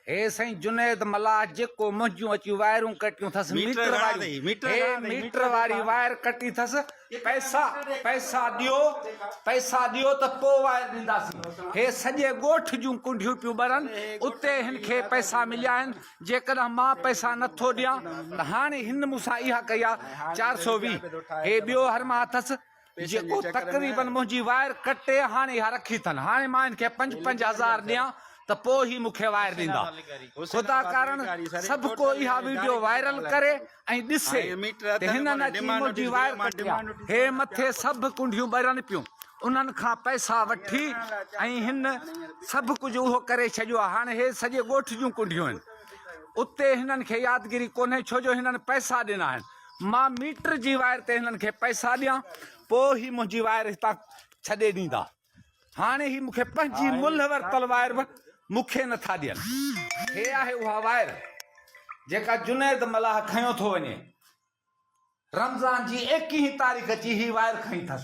هي سائين جنيد ملاح جيڪو منهنجون اچي وائرون ڪٽيون ٿس ميٽر واري ميٽر واري وائر ڪٽي ٿس پئسا پئسا ڏيو پئسا ڏيو ته پو وائر ڏينداسين هي سڄي ڳوٺ جون ڪنڊيون پيون ٻرن اتي هن کي پئسا مليا آهن جيڪڏهن مان پئسا نٿو ڏيان ته هاڻي هن مون سان اها ڪئي آهي چار سو ويهه هي ٻيو هرما اٿس جيڪو تقريبن منهنجي وائر ڪٽي هاڻي اها رکي اٿن. هاڻي مان هن کي پنج پنج هزار ڏيان ته پوء هي مون کي وائر ڏيندا. خدا ڪارڻ سڀ ڪو اها وڊيو وائرل ڪري ۽ ڏسي ته هنن اچي منهنجي وائر ڪٽي آ. هي مٿي سڀ ڪنڊيون ٻرن پيون. انهن کان پئسا وٺي ۽ هن سڀ ڪجهه اهو ڪري ڇڏيو آ. هاڻي هي سڄي ڳوٺ جون ڪنڊيون آهن. اتي هنن کي يادگيري ڪونهي ڇو جو هنن پئسا ڏنا آهن. مان ميٽر جي وائر تي هنن کي پئسا ڏيان پوء هي منهنجي وائر هتان ڇڏي ڏيندا هاڻي هي مون کي پنهنجي ملهه ورتل وائر به مون کي نٿا ڏين هي آهي اها وائر جيڪا جنيد ملاح کنيو ٿو وڃي رمضان جي ايڪيهين تاريخ جي هي وائر کنئي اٿس.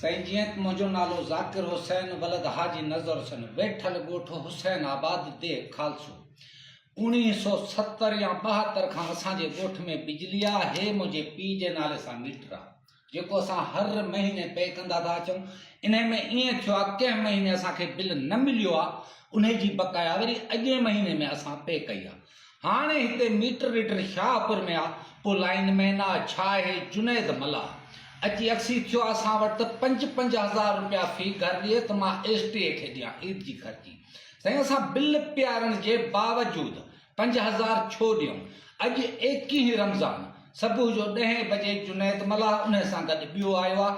سائين جيئن ته منهنجو نالو ذاڪر حسين ولد حاجي نظر حسين ويٺل ڳوٺ حسين آباد ديھ خالصو اوڻيھ سئو ستر يا ٻاهتر کان اسان جي ڳوٺ ۾ بجلي آ هي منهنجي پي جي نالي سان ميٽر آ جيڪو اسان هر مهيني پي ڪندا ٿا اچون انهي ۾ ائين ٿيو آ ڪنهن مهيني اسان کي بل نه مليو آ انهي جي بقايا وري اڳئين مهيني ۾ اسان پي ڪئي آ هاڻي هتي ميٽر ريڊر شاهه پور ۾ آ، پوء لائين مين آ، ڇا اهي جنيد ملاح اچي اڪسي ٿيو اسان وٽ ته پنج پنج هزار روپيا في گهر ڏئي ته مان ايس ٽي اي کي ڏيان عيد جي خرچي. سائين اسان بل پيارڻ جي باوجود پنج هزار ڇو ڏيون. اڄ ايڪيهين رمضان صبح جو ڏهين بجي جنيد ملاح انهي سان گڏ ٻيو آيو آ،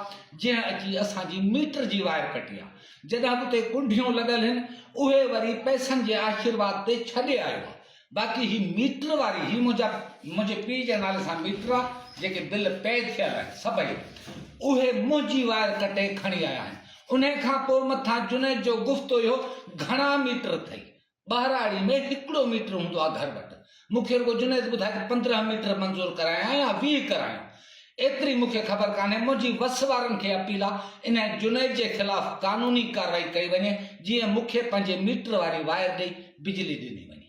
جنهن اچي اسان جي ميٽر جي وائر ڪٽي آ. جيڪي اڳتي ڪنڍيون لڳل هن اهي وري پئسن جي آشيرواد تي ڇڏي آيو آ باقي هي ميٽر واري هي منهنجا منهنجي پيء جي نالي سان ميٽر آ جيڪي بل پئي ٿيل آهن سڀئي اهي منهنجي وائر ڪٽي کڻي آيا آهن انهي کان پوء مٿان جنيد جو گفتو اهو گهڻا ميٽر اٿئي ٻهراڙي ۾ هڪڙو ميٽر هوندو آهي گهر وٽ، مون کي رڳو جنيد ٻڌائي ته پندرهن ميٽر منظور ڪرايائين يا ويهه ڪرايائين، ايتري مون کي خبر ڪانهي، منهنجي وس وارن کي اپيل آ انهيء جنيد جي خلاف قانوني ڪارروائي ڪئي وڃي، جيئن مون کي پنهنجي ميٽر واري وائر ڏئي بجلي ڏني وڃي.